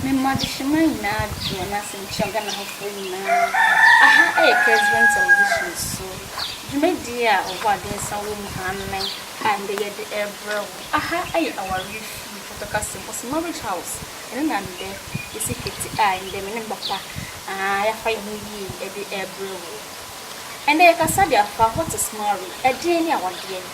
Me mma adehyemaa nyinaa gye wɔn ase nkyia Ghana hɔfoɔ nyinaa. Aha ɛyɛ President Television so dwumadie a ɔbɔ adensa wɔ mu annen a ɛndɛ yɛde rebrɛ wo. Aha ɛyɛ awareɛ fie Pɔtɔ Kaseɛ Boss Marriage House. Ɛno na ɛndɛ yɛsi kete a ɛndɛ me ne me papa aa yɛafa yɛn ho yie ɛde rebrɛ wo. Ɛndɛ yɛkasa de afa What is marriage? Ɛdeɛn ne awadeɛ?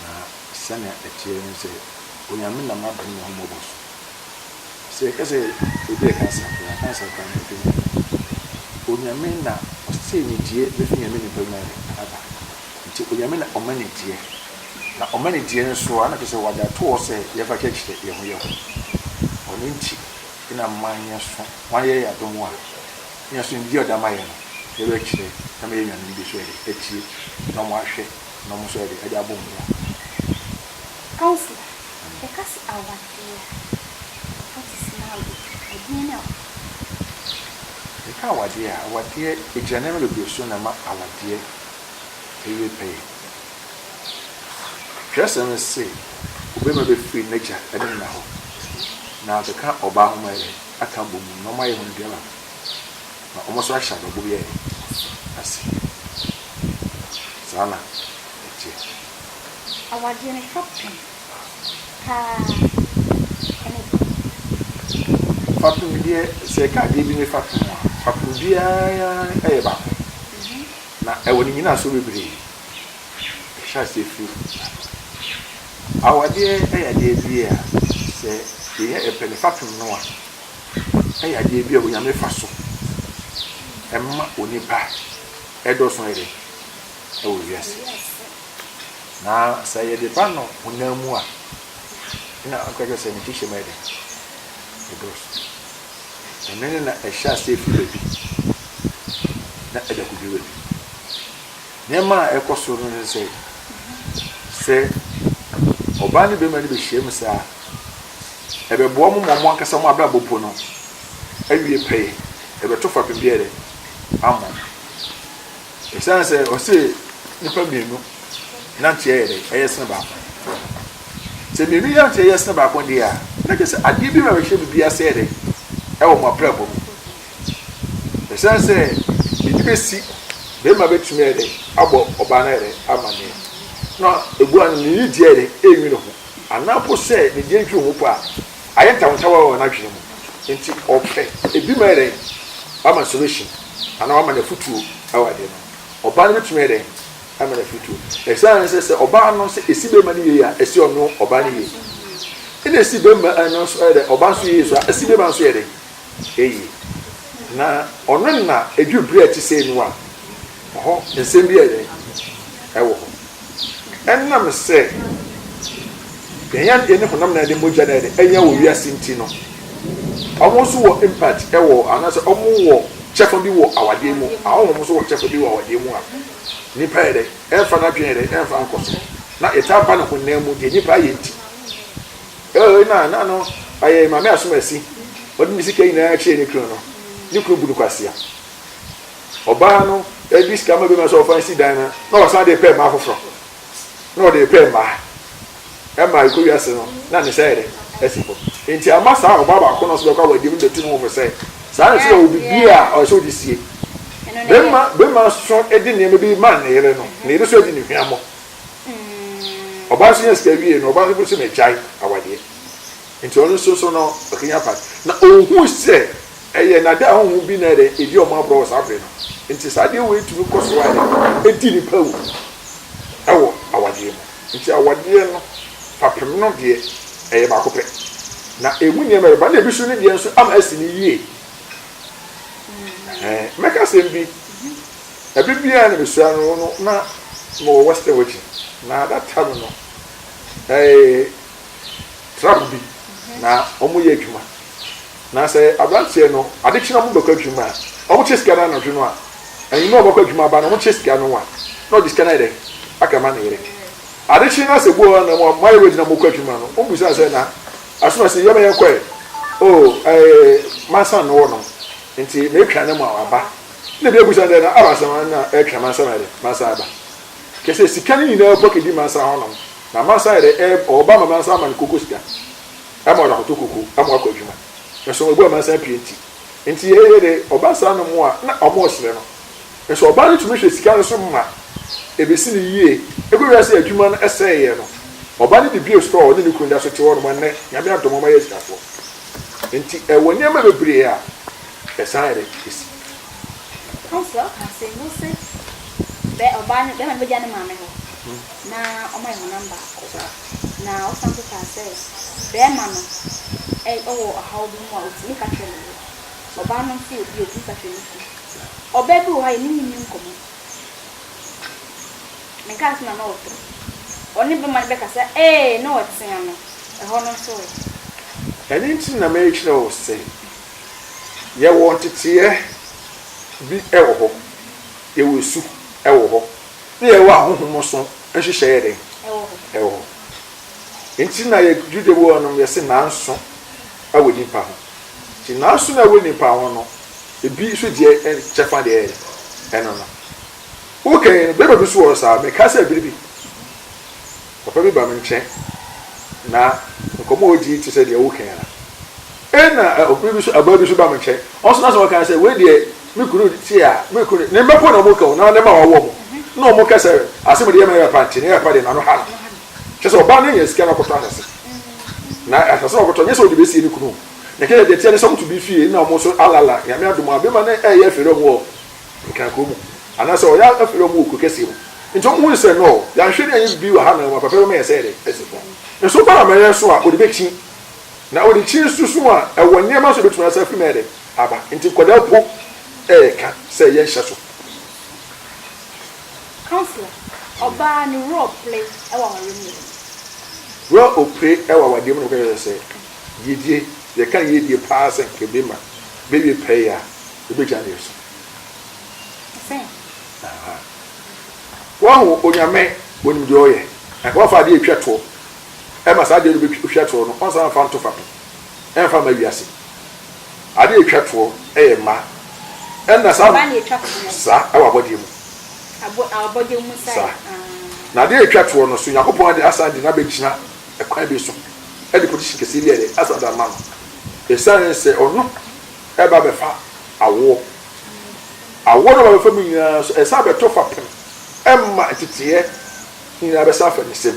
Na sɛnea ɛteɛ ne sɛ, Onyame nam adom ne ahummɔbɔ so, sɛ yɛka sɛ obi yɛ cancer koraa, cancer koraa no ɛfiri Onyame. Onyame na ɔsee nidie bɛfiri Nyame nipa mu ayɛ aba. Nti Onyame na ɔma nidie. Na ɔma nidie no so a, na kyerɛ sɛ ɔde ato hɔ sɛ yɛmfa kyerɛkyerɛ yɛn ho yɛn ho. Ɔno nti na mma yɛnso wayɛ yɛn adom a, yɛnso nidie a ɔde ama yɛn no, yɛbɛkyerɛ na ama yɛanya nimdeɛ so yɛde atie na wɔahwɛ. na ɔmo nso ɛde abɔ ɔmo ho. Councillor, yɛka se awadeɛ a, what is now the ɛdeɛn ne awadeɛ? Yɛka awadeɛ a, awadeɛ ɛgyina nneɛma bebree so na ɛma awadeɛ ɛyɛ pɛyɛ. Twerɛsɛm no se obarima bɛfiri n'agya ne ne na hɔ na akeka ɔbaa ho ma yɛ aka abɔ mu na ɔmo ayɛ wɔn aduaba. Na wɔn nso ahyɛ adɔbo biara nni ase. Saa na ɛteɛ. Awadeɛ no fa pem paa ne dɔ. Fa pem deɛ, sɛ ɛka adeɛ bi ne fa pem a, fa pem biara yɛ baako. Na ɛwɔ ne nnyinasoɔ bebree. Ɛhyɛ aseɛ firi adɔ. Awadeɛ yɛ adeɛ bi a, sɛ yɛyɛ pɛ ne fa pem no a. yɛ adeɛ bi a Onyame fa so ma onipa dɔ so yɛ dɛ wɔ wiase. Na sɛ yɛde ba no honam mu a, na ɔka kyerɛ sɛ ne kyehyɛ mu yɛ dɛ, ɛdɔ so. Ɛno ne na ɛhyɛ ase efi baabi na ɛda koduru baabi. Nneɛma a ɛkɔ so no ne sɛ, sɛ ɔbaa ne bɛrima no bɛhyia mu saa. Ɛbɛboa mo ma mo ankasa mo abrabɔ po no awie pɛyɛ, ɛbɛto fapem biara dɛ ama mo. Esiane sɛ ɔse nnipa mmienu nanteɛ yɛ dɛ, ɛyɛ sene baako. Sɛ mmienu nanteɛ yɛ sene baako deɛ a, na kyerɛ sɛ adeɛ bi bɛbɛhyɛ biribi ase yɛ dɛ ɛwɔ mo abrabɔ mu. Esiane sɛ biribi bɛsi, bɛrima bɛtumi yɛ dɛ abɔ ɔbaa no yɛ dɛ ama ne, na ɛgu ano ne nidie yɛ dɛ ɛnwi ne ho. Anaa mpo sɛ ne deɛ ntwiri ho mpo a, ayɛ ntawontawa wɔ n'adwene mu, enti ɔpɛ ebi ma ɛdɛn? Wama solution anaa wama no afutuo wɔ adeɛ no ho. Ɔbaa no bɛtumi ayɛ dɛn ama no afutuo? Ɛsiane ne sɛ, sɛ ɔbaa no sɛ ɛsi bɛrima no yie a, ɛsi ɔno ɔbaa no yie. Ɛna ɛsi bɛrima no nso yɛ dɛn? Ɔbaa nso yie so a, ɛsi bɛrima no nso yɛ dɛn? eyi. Na ɔno na edu bere a ɛte sɛɛ mu a, ɔhɔ nsɛm bi yɛ dɛn? Ɛwɔ hɔ. Ɛnam sɛ yɛn adwene ne honam na yɛde mogya na yɛde anya wɔ wiase nti no, wɔn nso wɔ impact wɔ anaasɛ wɔn wɔ kyɛfa bi wɔ awadeɛ mu. Ahɔhom nso wɔ kyɛfa bi wɔ awadeɛ mu a nipa yɛ dɛn? Ɛmfa n'adwene yɛ dɛn? Ɛmfa nkɔ so. Na yɛtaa ba no honam mu deɛ nipa ayɛ nti. Ɛwɔ yi na na no ayɛ Maame Asomasi. Ɔde ne sika nyinaa kyerɛɛ ne kunu no. Ne kunu bu no kwasea. Ɔbaa no de sika ma bɛma sɛ ɔfa nsi dan no, na ɔsan de repɛ mmaa foforɔ. Na ɔde repɛ mmaa. Ɛma ɛkɔ wiase no, na ne nsa yɛ dɛ asi hɔ. Nti ama saa ɔbaa baako no nso bɛkɔ awadeɛ mu de to ne ho fo sɛ, saa na ɛsɛ sɛ obi biara a ɔsɛ ɔde sie. Bɛma bɛma nso de nneɛma bi ma ne yere no, ne yere nso adi ne hwammɔ. Ɔbaa no so nya sika wiei no, ɔbaa no bo se magyae awadeɛ. Nti ɔno nso nso no ɔkanya part. Na ɔhu sɛ ɛyɛ nada honhom bi na ɛdɛ ɛdi ɔmo agorɔ wɔ saa bere no. Nti saa adeɛ wei tumi kɔ so ara ɛdi nipa awu ɛwɔ awadeɛ mu. Nti awadeɛ no fapem no deɛ ɛyɛ baako pɛ. Na ɛmu nneɛma ɛba na ebi so no deɛ nso ama asi no yie. Ɛhɛɛ mɛka asɛm bi. Bere bi a na misua no no, na mewɔ Western Virginia, na that time no, ɛyɛ truck bi na wɔyɛ adwuma. Na sɛ aberanteɛ no, ade kye na wɔbɛkɔ adwuma a, wɔkyɛ sika no anadwo no a, anwummerɛ a wɔbɛkɔ adwuma aba no, wɔkyɛ sika no a, na ɔde sika no ayɛ dɛn? Aka ma ne yere. Ade kye na sɛ buo na moayɛ ready na mokɔ adwuma no, wɔbisa sɛ, na ɛso na sɛ yɛma yɛkɔɛ? Oh, ɛyɛ mansa no wɔ nom, nti metwa no ma waba. Nna bi ebusa no dɛ, Na abaasa hɔn na ɛtwɛn mansa ma dɛn? Mansa aba. Kyerɛ sɛ, sika no nyina ɔpɛ kedi mansa hɔnom, na mansa ayɛ dɛ ɛɛb ɔɔba ma mansa ama no koko sika ma ɔdze akɔtɔ koko ma ɔakɔ edwuma. Nso mbowa mansa pii ntsi. Ntsi yɛ yɛ dɛ ɔba saa no mbowa na wɔn reserɛ no. Nso ɔbaa no tumi hwɛ sika no so ma ebesi no yie. Egu wiase a edwuma no sɛɛ yɛ no, ɔba no de bue store a ɔnye no kun da so tse hɔ no ma ndɛ Nyame adom hɔn ma wɔayɛ esikafoɔ. Ntsi wɔ nneɛma bebree a. Hwɛ saa yɛ dɛ kesi. Ɛkwan so a ɔka se mose bɛ ɔbaa no bɛma no bɛgya ne maame hɔ na ɔma yɛ honam baako na ɔsan nso kaa sɛ bɛɛma no ɛ ɔwɔ ɔhaw bi mu a ɔtumi ka kyerɛ ne yere ɔbaa no nso wɔ bi a ɔtumi ka kyerɛ ne kunu ɔbaa bi wɔ hɔ a yɛne no nni nkɔmmɔ me kaa se na na ɔtɔ ɔne bɛma no bɛka sɛ ee na ɔtea no ɛhɔ no nso ɛ. Ɛno nti na merekyerɛ wo sɛ. Yɛwɔ nteteɛ bi wɔ hɔ, yɛwɔ esu wɔ hɔ, na yɛwɔ ahohom so nhyehyɛɛ yɛ dɛn? Ɛwɔ hɔ. Ɛwɔ hɔ. Nti na yɛ Juda mu hɔnom yɛse nanso ɛwɔ nipa ho. Nti nanso na ɛwɔ nipa ho no, ebi nso deɛ kyɛfa deɛ yɛ ɛno no. Woka yi no, bɛrima bi nso wɔ hɔ saa, meka sɛ bere bi, papa bi ba me nkyɛn, na nkɔmmɔ a ɔdi te sɛ deɛ woka yi ara. Ɛnna ɔbere bi nso abaa bi nso baa me nkyɛn, ɔno nso n'asɛm a ɔkae ne sɛ, Wei deɛ, me kunu te a, me kunu ne mmako na wɔka o, na ne mma a wɔawo wɔn na wɔka sɛ asɛm a ɔde yɛ me no yɛ papa nti, ne yɛ papa deɛ n'ano ha no. Kyerɛ sɛ, ɔbaa no nyaa sika na ɔkɔtɔɔ asase, na asase no a ɔkɔtɔɔ no, nyɛ sɛ ɔde besie ne kunu o, na ɛkyerɛ sɛ, deɛ ɛteɛ ne sɛ, wɔto bi fie na wɔn nso alala. Nyame adom a, barima no reyɛ afiri wɔn wɔ Nkran kurow mu, anaasɛ ɔreyɛ afiri wɔn wɔ kuro kɛseɛ mu, enti wɔn hui sɛ, Nɔɔ, yɛanhwɛ na yɛanyɛ biribi wɔ ha na wɔn papa bɛma yɛn sɛ yɛde asi fam. Nso, ba a mɛyɛ nso a, ɔde bɛkyin. Na ɔde kyi nso sum a ɛwɔ nneɛma so betumi asan afiri mu ayɛ dɛ aba. Enti nkwadaa mpo reka sɛ yɛnhyɛ so. Councillor, Ɔbaa ne werɛ ɔpere wɔ awareɛ mu nokorɛ? Werɛ ɔpere wɔ awadeɛ mu nokorɛ kyerɛ sɛ yiedie, yɛka yiedie pa ara sɛ nka bɛma bɛwie pɛyɛ a, yɛbɛgya no yɛ so. Te sɛ? Aha. Woahu Onyame, Ɔnim deɛ ɔyɛ. Anka woamfa adeɛ retwa toɔ ɛma saa adeɛ no bɛtwa toɔ no, ɔnsan mfa nto fapem, ɛmfa mma wiase. Adeɛ a ɛtwa toɔ yɛ mma. Ɛnna saa Mma na ɛtwa toɔ wɔ. Saa, wɔ abɔdeɛ mu. Abɔ, abɔdeɛ mu saa. Saa. Na adeɛ a ɛtwa toɔ no, so Onyankopɔn de asan de no abɛgyina ɛkwan bi so de position kɛseɛ bi de asan de ama no? Ɛsiane sɛ ɔno reba abɛfa awoɔ. Awoɔ no a ɔba abɛfa mu nyinaa nso, ɛsan bɛto fapem ma nteteeɛ nyinaa bɛsan fa ne nsam.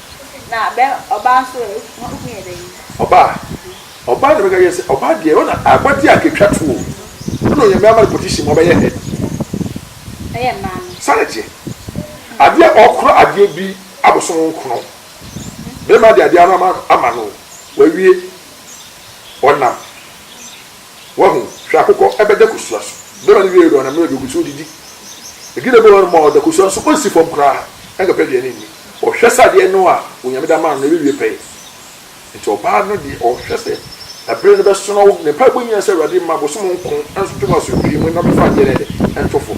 Na bɛ ɔbaa nso ɛ, ho ho yɛ dɛn? Ɔbaa? Ɔbaa na mɛka kyerɛ sɛ, ɔbaa deɛ, ɔno na abɔdeɛ a ketwa to o. Ɔno na Onyame ama no position mu, ɔbɛyɛ head. Ɛyɛ mmaa no. Saa na ɛteɛ. Adeɛ a ɔkorɔ adeɛ bi abosom nkono. Bɛrima deɛ adeɛ ano ama no o, wawie, ɔnam. Wahu? Hwɛ, akokɔ bɛda kosua so. Bɛma no wiei no, ɔnam no aduogu so, odidi. Aduan a ɛbɔ hɔnom a ɔda kosua so, ɔnsi fam koraa nkɔpɛ aduane nni. Ɔhwɛ sɛ adeɛ no a Onyame de ama no no, ɛbɛwie pɛyɛ. Enti ɔbaa no deɛ, ɔhwɛ sɛ ɛbere no bɛsono. Ne mpaebɔ nyinaa sɛ, Awurade, mma bosom nko nto me asomdwoeɛ mu, na ɔmɛfa adeɛ no ɛdɛ nto fo.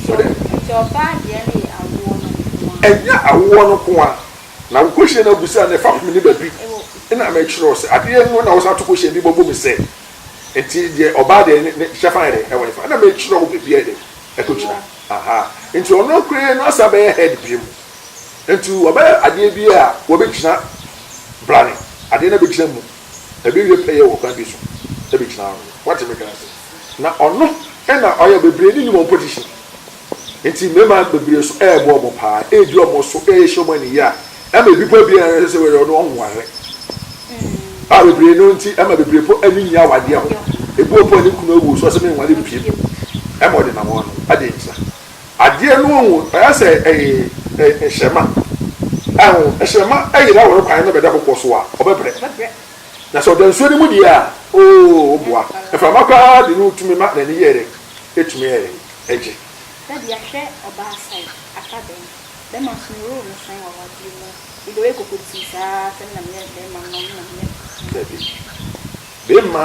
Wote dɛ? Enti ɔbaa deɛ no yɛ awoɔ no nko ara. Ɛnyɛ awoɔ no nko ara. Na wo kosua no abu sɛ, na ɛfapem ne baabi. Ɛna mɛkyerɛ wo sɛ, adeɛ no na wɔsan to kosua bi bɔ bom sɛ. Nti deɛ ɔbaa deɛ ne ne hyɛ fine de ɛwɔ ne fa ɛna me kyerɛ wo baabi a ɛde ɛkɔ gyina aha nti ɔno koraa no asa bɛyɛ head bie mu nti ɔbɛyɛ adeɛ bi a wɔbɛ gyina blane adeɛ na bɛ gyina mu ɛbɛ wie pɛ yɛ wɔ kwan bi so ɛbɛ gyina ano wate me ka ase na ɔno ɛna ɔyɛ bebree ne nim wɔn position Enti mmarima bebree nso rebɔ wɔn paa, redi wɔn so, rehyɛ wɔn aniyi a ɛma ebi po biara a ɛsɛ sɛ wɔyɛ no wɔn ho wɔaherɛ. A bebree no nti ɛma bebree po ani nni awadeɛ ho. Ebi wɔ po a ne kunu awu so ɔsɛ menware mpiem. Ɛma ɔde nam wɔn ano. Adɛn nti saa? Adeɛ no ho ayɛ sɛ ɛyɛ hyɛmma. Ɛho hyɛmma yere awɔre kwan na bɛda kɔkɔɔ so a, ɔbɛbrɛ. Na sɛ ɔda nsuo no mu deɛ a, oo, woboa. Mframa koraa de no tumi ma n'ani yɛ dɛ. Betumi ayɛ dɛn agye? Ebia hwɛ ɔbaa sɛn, aka dɛn? Bɛma so no role no sɛn wɔ awadeɛ mu? Ebia woyɛ kokotii saa ara sɛ me na meyɛ bɛma no, me na meyɛ no. Dabi. Bɛma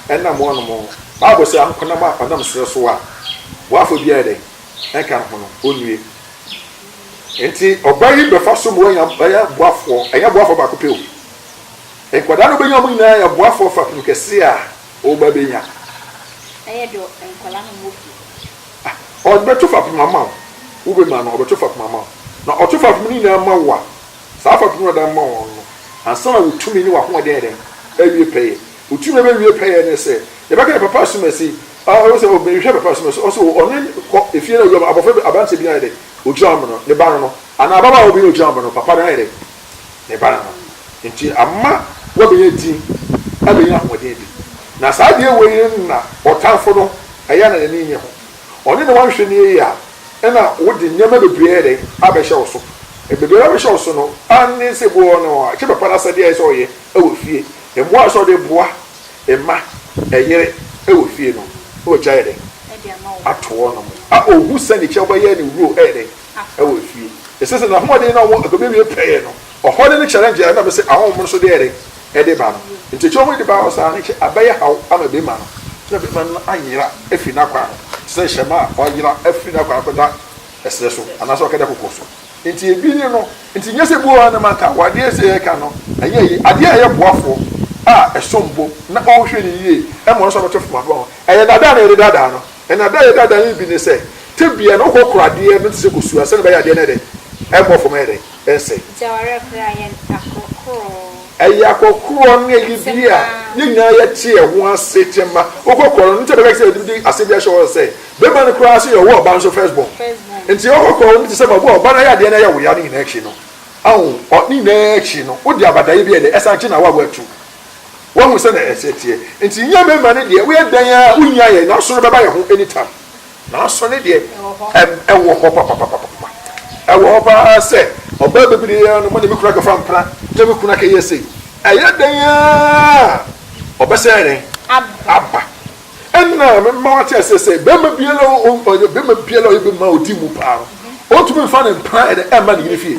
ɛnam wɔnom. Bible se ankonam a ɔnam serɛ so a boafo biara yɛ dɛn? Ɛnka ne ho no, ɔnnue. Enti ɔbaa yi bɛfa so ma wanya bɛyɛ boafoɔ. Ɛnyɛ boafoɔ baako pɛ o. Nkwadaa no bɛnya wɔn nyinaa yɛ boafoɔ fapem kɛse a. Wo ba benya. Bɛyɛ dɛ nkwadaa na wɔwɔ fie. Ah, ɔbɛto fapem ama wo. Wo bɛma no, ɔbɛto fapem ama wo. Na ɔto fapem no nyinaa ma wo a, saa fapem no a ɔde ama wo no, ansa na wo tumi ne w'ahoɔden ayɛ dɛn? Awie pɛyɛ. Wo tumi a ɛbɛwie pɛyɛ ne sɛ, yɛbɛka sɛ papa asumasi, ah, ɛwɔ sɛ ɔbɛhwɛ papa asumasi, ɔsɛ o, ɔne no kɔ efie na ɔyɛ ɔma abɔfra bi, aberanteɛ bi ayɛ dɛn? Ɔgyina ɔma no, ne ba no no, anaa ababaawa bi na ɔgyina ɔma no, papa no ayɛ dɛn? ne ba no ho. Enti ama woabenya din, abenya ahoɔden bi. Na saa adeɛ wei no na ɔtamfo no, ɛyɛ a na n'ani nnye ho. Ɔne no anhwɛ no yie a, ɛna wode nneɛma bebree ayɛ dɛn? Abɛhyɛ wo so. Bebree a abɛhyɛ wo so no, aane sɛ bi wɔ hɔ no, ɛkyɛ papa no asɛdeɛ a ɛsɛ sɛ ɔyɛ wɔ fie. Mmoa a ɛsɛ sɛ ɔde boa mma, ɛyere wɔ fie no, na wagyae ayɛ dɛn? Ato hɔ nom. A ɔhu sɛ ne kyɛ wobɛyɛ ne wuro ɛyɛ dɛn? wɔ efie. Ese se na ahoɔden na ɔmo akobewie pɛɛ no, ɔhɔde ne challenge a ɛnam se ahonhom no so deɛre de ba no nti. Ekye ɔmo de ba hɔ saa no ekye abɛyɛ haw ama bema no na bema no ayera afiri n'akwan ho te sɛ hyɛmma a ɔyera afiri n'akwan kɔda ɛserɛ so anaase ɔkɛda koko so. Nti ebi ne no. Nti nyɛ sɛ ebuo anam anka wɔ adeɛ se yɛreka no ɛnyɛ ayi. Adeɛ a ɛyɛ boafoɔ a ɛsom bo na ɔrehwɛ no yie ma ɔno nso abɛto fam aboa ho. Ɛyɛ daadaa na yɛde daadaa no. Na dɛ yɛda dan yi bi nye sɛ, tebea no wokɔ kora adeɛ no te sɛ kosua sɛdeɛ ɛbɛyɛ adeɛ no ayɛ dɛn? Ɛmmɔ fam ayɛ dɛn? Ɛnsɛe. Nti awareɛ korɔ a yɛ akorɔkorɔ. Ɛyɛ akorɔkorɔ ne ɛyɛ bi a yɛn nyinaa yɛte ɛho ase tema wokɔ kora no ne nti ɛbɛka sɛ yɛde bi asɛm bi ahyɛ hɔ sɛ barima no koraa sɛ yɛwɔ ɔba nso first born nti wokɔ kora no te sɛ ma ɔba no ayɛ adeɛ no ayɛ wo ya ne nyinaa akyi no ahu ne nyinaa akyi no wode abadaeɛ bi ayɛ dɛn ɛsan kye na awareɛ atu Wahu sɛnea yɛn sɛ teɛ. Nti nyɛ mmarima no deɛ woyɛ dɛn ara wonnya yɛn nanso no bɛba yɛn ho any time. Nanso ne deɛ ɛwɔ hɔ papapapapapa. Ɛwɔ hɔ paa sɛ ɔbaa bɛbire ara no mene me kunu akɔfa mpena na me kunu akɛyɛ sei. Ɛyɛ dɛn ara ɔbɛsan yɛn aba. Ɛna mema wate aseɛ sɛ barima biara ɔyɛ barima biara ɔyɛ barima a ɔdi mu paa no ɔntumi mfa ne mpena ɛnɛ ɛmma ne yere fie.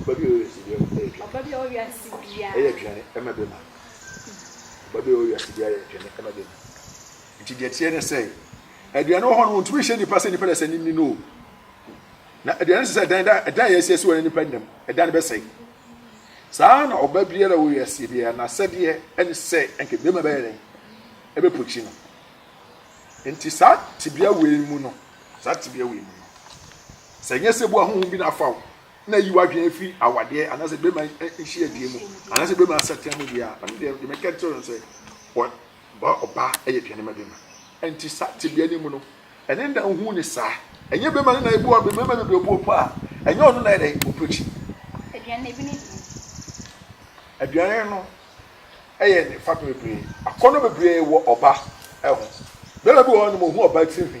Ɔba bi a ɔwɔ wiase biara mu yɛ aduane. Ɔba bi a ɔwɔ wiase biara. Yɛ aduane ma bi ma. Ɔba bi a ɔwɔ wiase biara yɛ aduane ma bi ma. Nti deɛ teɛ ne sɛ, aduane wɔ hɔ no wɔntumi nhyɛ nipa sɛ nipa deɛ sɛ ne ni no o. Na aduane no sɛ sɛ dan da dan yɛ asie so wɔ nipa nnam, ɛdan no bɛsɛe. Saa na ɔba biara wɔ wiase biara na sɛdeɛ ɛne sɛ ɛnka bɛma bɛyɛ dɛn ɛbɛpokyi no. Nti saa tebea wei mu no, saa tebea wei mu no. Sɛ nnyɛ sɛ ebua honhom bi na afa wo na eyi w'adwen efi awadeɛ anaasɛ bɛrima nhyiadie mu anaasɛ bɛrima asatea mu deɛ a, ɛno deɛ deɛ mɛka kyerɛ no sɛ ɔ ɔbaa yɛ aduane ma bɛrima. Ɛnti saa tebea no mu no, ɛne nna nhu ne saa. Ɛnyɛ bɛrima no na ebua bɛrima bebree obu obu a, ɛnyɛ ɔno na ɛdɛ ɔpɛ akyi. Aduane ebi ne dini. Aduane no ɛyɛ ne fapem bebree. Akɔnnɔ bebree wɔ ɔba ɛho. Bɛrima bi wɔ hɔ nom ɔhu ɔba tiri nhwi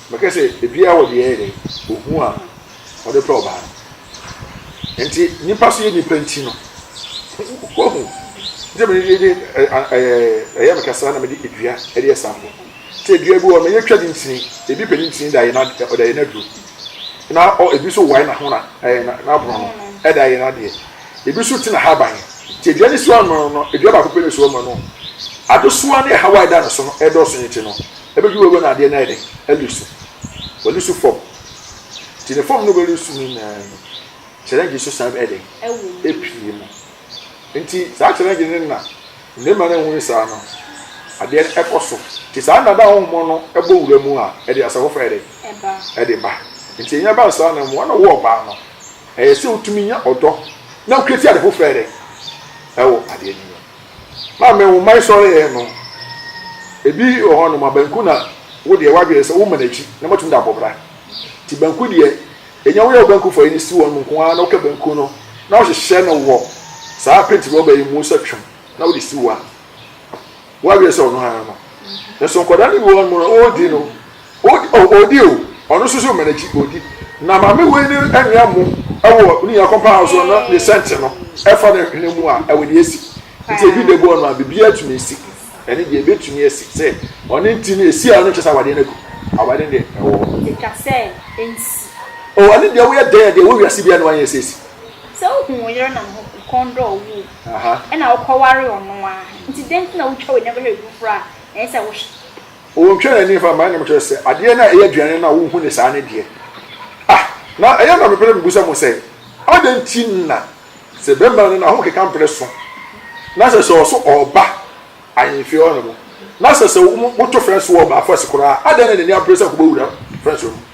Mɛka sɛ ebiaa wɔ deɛ ɛyɛ dɛn ohu a ɔde pɛ ɔbaa no nti nipa so yɛ nipa nti no wahu nti mene de de ɛyɛ meka saa na mede edua ɛde ɛsampo sɛ edua bi wɔ mɛyɛ twa ne ntini ebi pɛ ne ntini da yɛ na ɔda yɛ n'aduro na ɔ ebi so wae na ho na ɛyɛ na n'aborɔ no ɛda yɛ n'adeɛ ebi so ti na ha ban nti edua ne so ano no edua baako pɛ ne so ama no adesoa ne ɛhaw a ɛda ne so no ɛdɔɔso ne ti no Ɛbɛduru baabi a na adeɛ no ayɛ dɛ, alisu. Walisu fam. Nti ne fam no bɛlisu no nyinaa no, challenge so san bɛyɛ dɛn? Ɛpue mu. Nti saa challenge no na mmarima no ahunu saa no, adeɛ no ɛkɔ so. Nti saa nna da honhom no ɛbɔ wura mu a, ɛde asafofa yɛ dɛn? Ɛde ba. Nti ɛnya ba saa no, mmoa na wo ɔbaa no, ɛyɛ sɛ wotumi nya ɔdɔ na wokreati ade foforɔ yɛ dɛn? Ɛwɔ adeɛ no mu. Maa me wo mmae sɔre yɛɛ no. Ebi wɔ hɔ nom a banku na wo deɛ w'adwene sɛ wo mma n'akyi na mo atumi de abɔ bra. Nti banku deɛ enya wo yɛ wo banku fa ani si wɔn nom nko ara na wo ka banku no na wo hyehyɛ no wɔ saa paint rubber yi mu sɛ twom na wo de si wo a w'adwene sɛ ɔno ara no. Nso nkwadaa no bi wɔ hɔ nom no wo di no. Odi oh odi oh ɔno nso so ma n'akyi odi na maame wei ne anwea mo ɛwɔ ne nyina kɔmpa ahosuo no na ne sɛnte no ɛfa ne hwene mu a ɛwɔ deɛ ɛsi nti ɛdu dɛboɔ no a biribiara tumi si ɛne deɛ ɛbɛtumi asi sɛ ɔne nti no ɛsi a ɔno nkyɛ sɛ awadeɛ no aku awadeɛ no deɛ ɛwɔ hɔ ɛtwa sɛ ɛnsi oh ɛne deɛ woyɛ dɛn a deɛ ɛwɔ wiase biara na wanyɛ sɛ ɛsi. Sɛ wohu wo yere na ne ho kɔn dɔ wo o ɛna wokɔware ɔno a nti dɛn nti na wotwa w'ani abɛhwɛ biribi foforɔ a ɛnsɛ sɛ wohwɛ. Ontwa n'ani mfa mma nnwom kyerɛ sɛ adeɛ no a ɛyɛ aduane no a wohu no saa no deɛ ah na ɛyɛ na mepɛ sɛ mebusa mo sɛ adɛn nti na sɛ bɛrima no na ho keka mprɛ so na sɛ sɛ ɔso ɔba ahemfie hɔ nom na sɛ sɛ moto fɛnso wɔ ɔbaafo ase koraa adɛn na n'ani abere sɛ kɔbɛwura fɛnso no mu.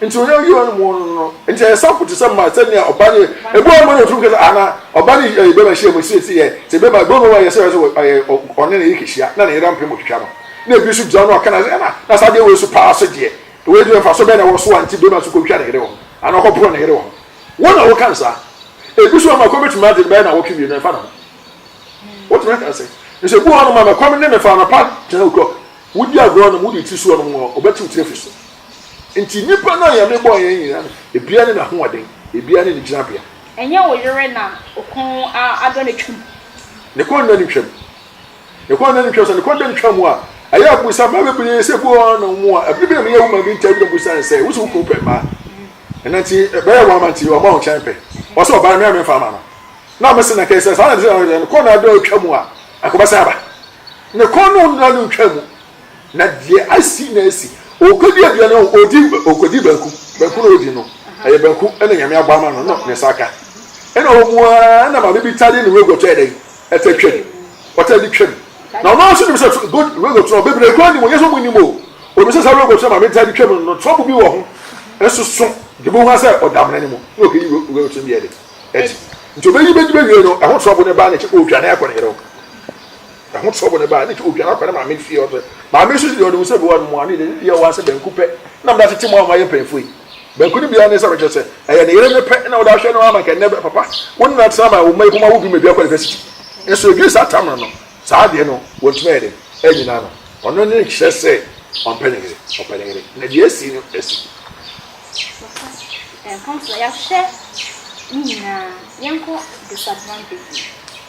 nti onye oyi ɔno mu ɔno no nti ɛyɛ sampo te sɛ mma sɛnea ɔba ne ebi wɔn mu na efiri kasa ana ɔba ne ɛyɛ bɛma hyia mu siesie yɛ te bɛma ebi wɔn mu yɛ sɛ yɛ sɛ ɔyɛ ɔne ne yɛ kɛhyia na ne yɛrɛ mpem otwitwa no na ebi nso gyina no ɔka na sɛ ɛna na saa deɛ wɔyɛ so paa so deɛ wɔyɛ deɛ nfa so bɛn na ɛwɔ so a nti bɛma so kɔtwa ne yɛrɛ wɔn ana ɔkɔ pono ne yɛrɛ wɔn wɔn na wɔka nsa ebi nso ama kɔ betumi adi bɛn na wɔtwe mmienu ɛfa ne ho wɔtumi aka sɛ nso ebi wɔn ma mɛkɔm ne mɛfa anapa gyina okɔ wodi agorɔ nom wodi ti so wɔn wɔn ɔbɛtiw tire fi so. Enti nnipa no a Nyame bɔɔ yɛn nyinaa no, ebiara ne n'ahoɔden, ebiara ne ne gyinabea. Ɛnyɛ wo yere na wo kɔn adɔ na atwam? Ne kɔn da no ntwam. Ne kɔn da no ntwam. Sɛ ne kɔn da no twa mu a, ɛyɛ a bisa mmaa bebree sɛ, Ebia wɔn na wɔn a, ɛbere bi na meyɛ wo ma bi ntaa bi na bisa no sɛ, Wose wo kunu pɛ mmaa? Ɛna nti, ɛbɛyɛ wɔn ama nti, ɔma wo nkyɛn pɛ. Ɔsɛ ɔbaa me a memfa ama no. Na mese na kɛse saa na ɛsɛ sɛ ne kɔn na adɔ atwa mu a, anka ɔbɛsan aba. Ne kɔn no da no ntwa mu. Na deɛ asi na asi. Ɔkɔdi aduane o, ɔdi, ɔkɔdi banku. Banku na ɔdi no. Ɛyɛ banku na Nyame abɔ ama no, na ne nsa aka. Ɛna ɔwɔ mu ara na maame bi taa de ne rogoto ayɛ dɛn? Ɛtaa twam. Ɔtaa de twam. Na ɔno ara nso nim sɛ good rogoto no, bebree koraa nim o, nyɛ sɛ wɔnnim o. Ɔnim sɛ saa rogoto no a maame taa de twam no, trouble bi wɔ ho. Nso so, deɛ ɔbɛhu ara sɛ ɔda amena no mu, na ɔkɔyi rogoto no bi ayɛ dɛn? Adi. Nti ɔbɛyi bɛdi bɛwie no, ɛho trouble no ba na kyɛ ɔredwane akɔ ne yere hɔ. Ɛho tɔ bone baa ne ti odwan akɔ ne maame fie ɔsɛ. Maame nso deɛ ɔnim sɛ mewɔ no mmoa ne deɛ ne deɛ ɛwɔ ase banku pɛ na mede atete mmoa a wɔayɛ mpanyinfoɔ yi. Banku no biara ne sɛ mekyerɛ sɛ ɛyɛ ne yere no pɛ na wode ahwɛ no ama nka ɛnnɛ papa wo ne no atena ma wo mma yi kɔma wobi ma bi akɔ university. Nso ɛduru saa tamena no saa deɛ no wɔntumi ayɛ dɛn anyina ano. Ɔno ne kyerɛ sɛ ɔmpɛ ne yere. Ɔpɛ ne yere na deɛ asi no asi. Papa ɛmfa mfra yɛahwɛ ne nyinaa yɛnkɔ disadvantages.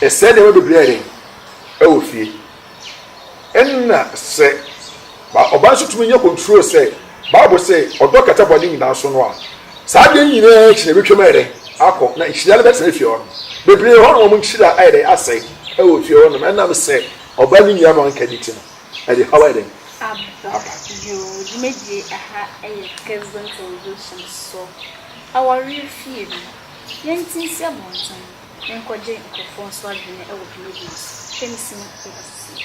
Ɛsɛe nneɛma bebree ayɛ dɛn wɔ fie? Ɛnna sɛ ba ɔbaa nso tumi nya control sɛ Bible se ɔdɔ kata bɔne nyinaa so no a, saa adeɛ yi nyinaa akyi no ɛbɛtwam ayɛ dɛn akɔ na nhyira no bɛtena fie hɔnom. Bebree wɔ hɔ nom a wɔn nhyira ayɛ dɛn asɛe wɔ fie hɔnom ɛnam sɛ ɔbaa ne nua no anka ne ti no ɛde haw ayɛ dɛn aba. Yoo dwumadie ɛha ɛyɛ Kesdon television so awareɛ fie no yɛnte nsi abɔnten. menkɔgye nkurɔfoɔ nso adwene wɔ dwumadie no so. Hwɛ me sini bɛba seesei.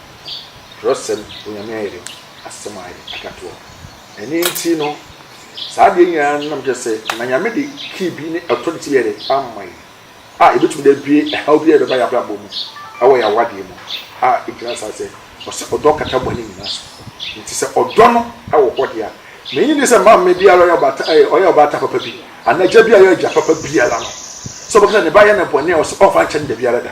twerɛsɛm, Onyame ayɛdɛ, asɛm a ayɛ akatoɔ. Ɛno nti no, saa adeɛ nyinaa no nam kyerɛ sɛ, na Nyame de kii bi ne authority bi ayɛdɛ ama yɛ a ɛbɛtumi de abue ɛhaw bi a ɛbɛba yɛ abrabɔ mu ɛwɔ yɛ awadeɛ mu a ɛgyina saa sɛ, ɔsɛ ɔdɔ kata bɔne nyinaa so. Nti sɛ ɔdɔ no wɔ hɔ deɛ a, menye ne sɛ maame biara ɔyɛ ɔbaata ɛyɛ ɔyɛ ɔbaata papa bi anaa agya bi a ɔyɛ agya papa biara no sɛ ɔbɛka sɛ ne ba yɛ no bɔne a ɔsɛ ɔmfa nkyɛ no da biara da.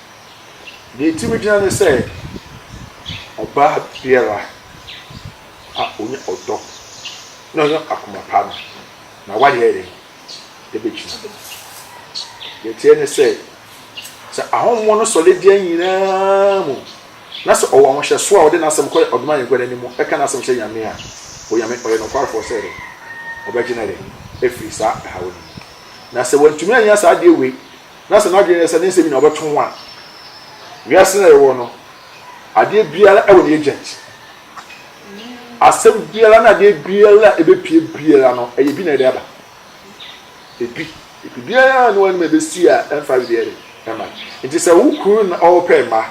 Deɛ enti megyina ne sɛ, ɔbaa biara a ɔnya ɔdɔ na ɔnya akoma pa no, n'awadeɛ ayɛ dɛn? Ɛbɛgyina mu. Deɛ ɛteɛ ne sɛ, sɛ ahɔhoɔ no sɔre deɛ nyinaa mu na sɛ ɔwɔ ahohyɛsoɔ a ɔde n'asɛm kɔ ɔdom ayɛnkwa no anim ɛka n'asɛm hyɛ Nyame a, Onyame ɔyɛ nokwarefoɔ sɛ dɛn? Ɔbɛgye no dɛn? Afiri saa ɛhaw no mu. Na sɛ wantumi annya saa adeɛ wei, na sɛ n'adwene yɛ sɛ ne nsɛm nyinaa ɔbɛto ho a, wiase no a yɛwɔ no, adeɛ biara wɔ ne agent. Asɛm biara na adeɛ biara a ɛbɛpie biara no, ɛyɛ bi na ɛde aba. Ebi, biribiara a ne wɔn anim ɛbɛsi a ɛmfa biribiara de ɛma no. Nti sɛ wo kunu na ɔrepɛ mma,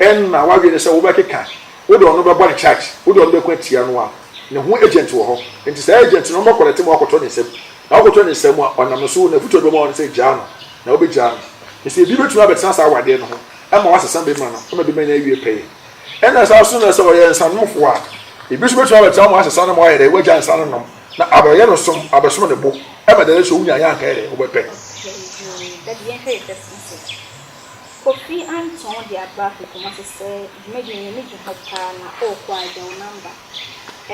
ɛna w'adwene ne sɛ wobɛkeka, wode ɔno bɛbɔ ne charge, wode ɔno bɛko atia no a, ne ho agent wɔ hɔ. Nti saa agent no, ɔmbɛkɔlɛte ma wakɔtɔ ne nsam. Na ɔkoto ne nsam a ɔnam so n'afotu a ɔde bɛma wo no sɛ gyaa no, na wobegyaa no. Na sɛ ebi betumi abɛtena saa awadeɛ no ho ma wasesa bɛ ma no ma bɛ ma no awie pɛyɛ. Ɛna saa nso na sɛ ɔyɛ nsanomfoɔ a, ebi nso betumi abɛtena hɔ ma wasesa no ma wayɛ dɛn, wagyaa nsa no nom, na abɛyɛ no som, abɛsom ne bo, ɛma da no so wonyaeɛ anka yɛ dɛn, wobɛpɛ no. Okay, daddy yɛnhwɛ yɛ first message. Kofi Anton de aba Afekumase sɛ dwumadie no n'ani gye ho paa na ɔɔkɔ a agya wo number.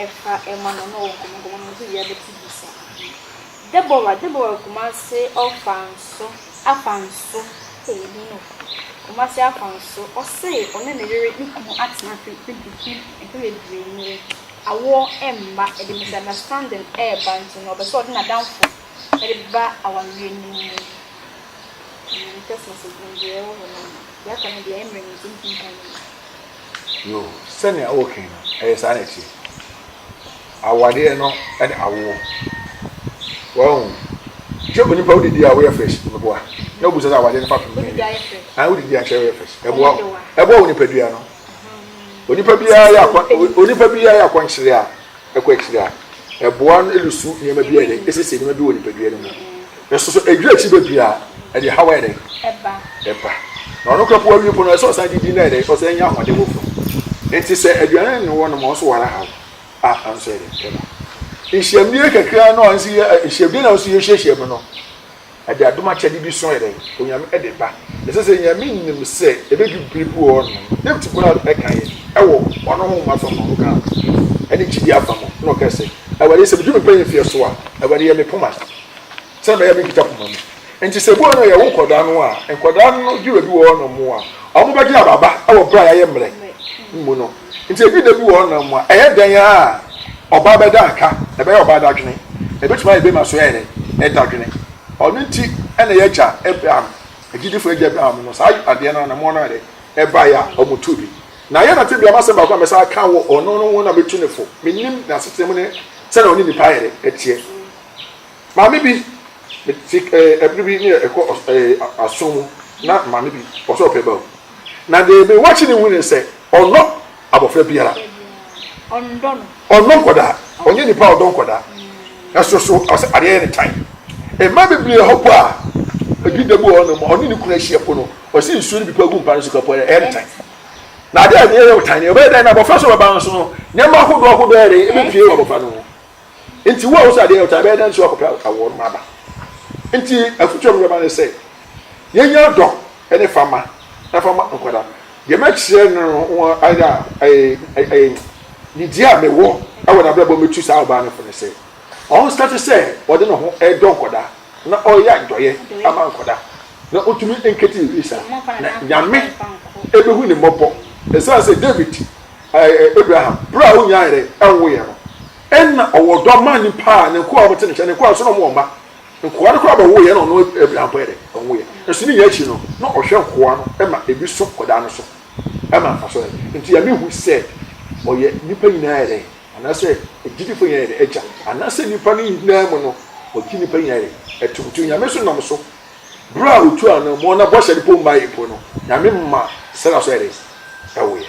Ɛfa ɛma no na ɔwɔ nkɔmmɔ nkɔmmɔ no nso yɛ bɛte bi sa ahene Deborah Deborah Kumasi ɔfa nso afa nso ee ɛdin no Kumasi afa nso ɔse ɔne ne yere ne kunu atena afe mfe mfe bebree nie awoɔ ɛmma ɛde misunderstanding ɛɛba nti no ɔpɛ sɛ ɔde n'adamfo ɛde ba awareɛ no mu mm text message no deɛ ɛwɔ hɔ no yɛaka no deɛ ɛmmerɛ no nti mentumi nkan no mu. Yoo, sɛnea woreke no, ɛyɛ saa na ɛteɛ. Awareɛ no ne awoɔ. Wahu? Sɛ onipa wodidi a woyɛ fresh, meboa. Na wobu sɛ sɛ awareɛ no fapem bɛn ni. Ah, wodidi a kyerɛ woyɛ fresh. Ɛboa wo. Ɛboa wo nipadua no. Onipa biara yɛ akɔ onipa biara yɛ akɔnkyere a kɔ akyiri a, ɛboa no de su nneɛma bi a ɛyɛ dɛ, esiesie nneɛma bi wɔ nipadua no mu. Nso so edwira akyiri bebree a, ɛde haw ayɛ dɛ ɛba. ɛba. Na ɔno koraa po awie po no, ɛsɛ ɔsan didi na ɛdɛ ɔsan nya ahoɔden foforo. Enti sɛ aduane ne wɔnom a ɔso wara haw a, ɛno nso ɛyɛ dɛ ɛba. Nhyiamdie kakra no a nso yɛ nhyiamdie na nso yɛhyiahyia mu no. Ɛde adom akyɛde bi so yɛ dɛn? Onyame de ba. Ɛsɛ sɛ Nyame nim sɛ ɛbɛdu bere bi wɔ hɔ nom, Dawid bɔɔ ɛkaeɛ wɔ Ɔno honhom afa mu, Ɔno kaa ho, ɛne gyidie afa mu, na ɔkae sɛ, Awurade, sɛ medu me mpaeɛ mfeɛ so a, Awurade, yɛ me poma, sɛdeɛ ɛbɛyɛ a menkita poma mu. Enti sɛ ebua no yɛwo nkwadaa no a, nkwadaa no dwuma bi wɔ hɔ nom a wɔbɛgye aba aba wɔ bere a yɛayɛ mmerɛ mu no. Nti ebi da bi wɔ hɔ nom mu a, ɛyɛ dɛn ara a ɔbaa bɛda aka, ɛbɛyɛ ɔbaa dadwene, ebetumi ayɛ bɛrima nso ayɛ dɛn? dadwene. Ɔno nti na y'agya Abraham, agyidifo agya Abraham no, saa adeɛ no anammɔn no ayɛ dɛn? ɛbaeɛ a wɔtuu bi. Na yɛn na tebea no asɛm baako a mɛsan aka wɔ ɔno no ho na metu no fo, mennim n'asetena mu ne sɛnea ɔne nnipa ayɛ dɛn? ɛteɛ. Maame bi te eh, bere bi ne ɛkɔ ɔs eh, aso mu na maame bi ɔsɛ ɔpɛ ba o. Na deɛ me wakye ne hu ne sɛ ɔnnɔ abɔfra biara. Ɔndɔ no. Ɔnnɔ nkwadaa. Ɔnyɛ nipa a ɔdɔ nkwadaa. Ɛso so ɔsɛ adeɛ yɛ ne tan. Mmaa bebree hɔ po a ebi da bu wɔ hɔnom ma ɔne ne kunu ahyia po no ɔsɛ nsuo no bi po agu mpa no so ka po ayɛ ɛyɛ ne tan. Na adeɛ a ɛyɛ wo tan no ɛbɛyɛ dɛn na abɔfra so bɛba nso no nneɛma ahodoɔ ahodoɔ ayɛ dɛn ɛbɛpie wɔ abɔfra no ho. Nti wo a wosɛ adeɛ ɔtaa bɛyɛ dɛ nso akɔpɛ awoɔ no aba. Nti afutuo a mebɛma no sɛ yɛnya dɔ ne fama na fama nkwadaa no. Deɛ mɛkyerɛ no no ho ayɛ dɛ a nidie a mewɔ wɔ n'abrabɔ mɛtu saa ɔbaa no fo ne sɛ ɔnstate sɛ ɔde ne ho dɔ nkwadaa na ɔyɛ adɔeɛ ama nkwadaa na ɔntumi nkɛti biribi saa na Nyame bɛhu ne mmɔbɔ ɛsiane sɛ David Ɛɛ, Abraham, bere a onyaa yere nwoo yɛn no, nna ɔwɔ ɔdɔ ma ne mpa a ne nkoa a wɔte ne nkyɛn, ne nkoa nso na wɔwɔ mma. Nkoa no koraa bɛwoo yɛn na ɔno Abraham mpo yɛ dɛ? Ɔnwoo yɛn. Nanso ne nyinaa akyi no, na ɔhwɛ nkoa no ma ebi so kɔdaa no so ma mfaso yɛ dɛ. Enti Nyame hui sɛ ɔyɛ nnipa nyinaa yɛ dɛ? Anaasɛ agyidifo nyinaa yɛ dɛ? Agya. Anaasɛ nnipa no nyinaa mu no, ɔgye nnipa nyinaa yɛ dɛ? Ɛto nti Onyame nso nam so bere a otuu anammɔn na bɔhyɛ no mpo mmae mpo no, Nyame ma Sara nso yɛ dɛ? Ɛwoo yɛn.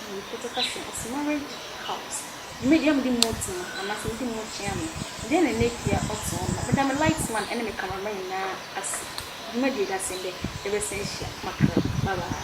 Mepɛkyɛw ka kyerɛ me, ɔse marriage house me deɛ mede mo ti mu anaa sɛ mede mo tua me deɛ na ɛnɛ pia ɔte hɔ nom meda me light man ɛne me camera man nyinaa ase dwumadie da sɛn dɛ yɛbɛsan hyia makra bye bye.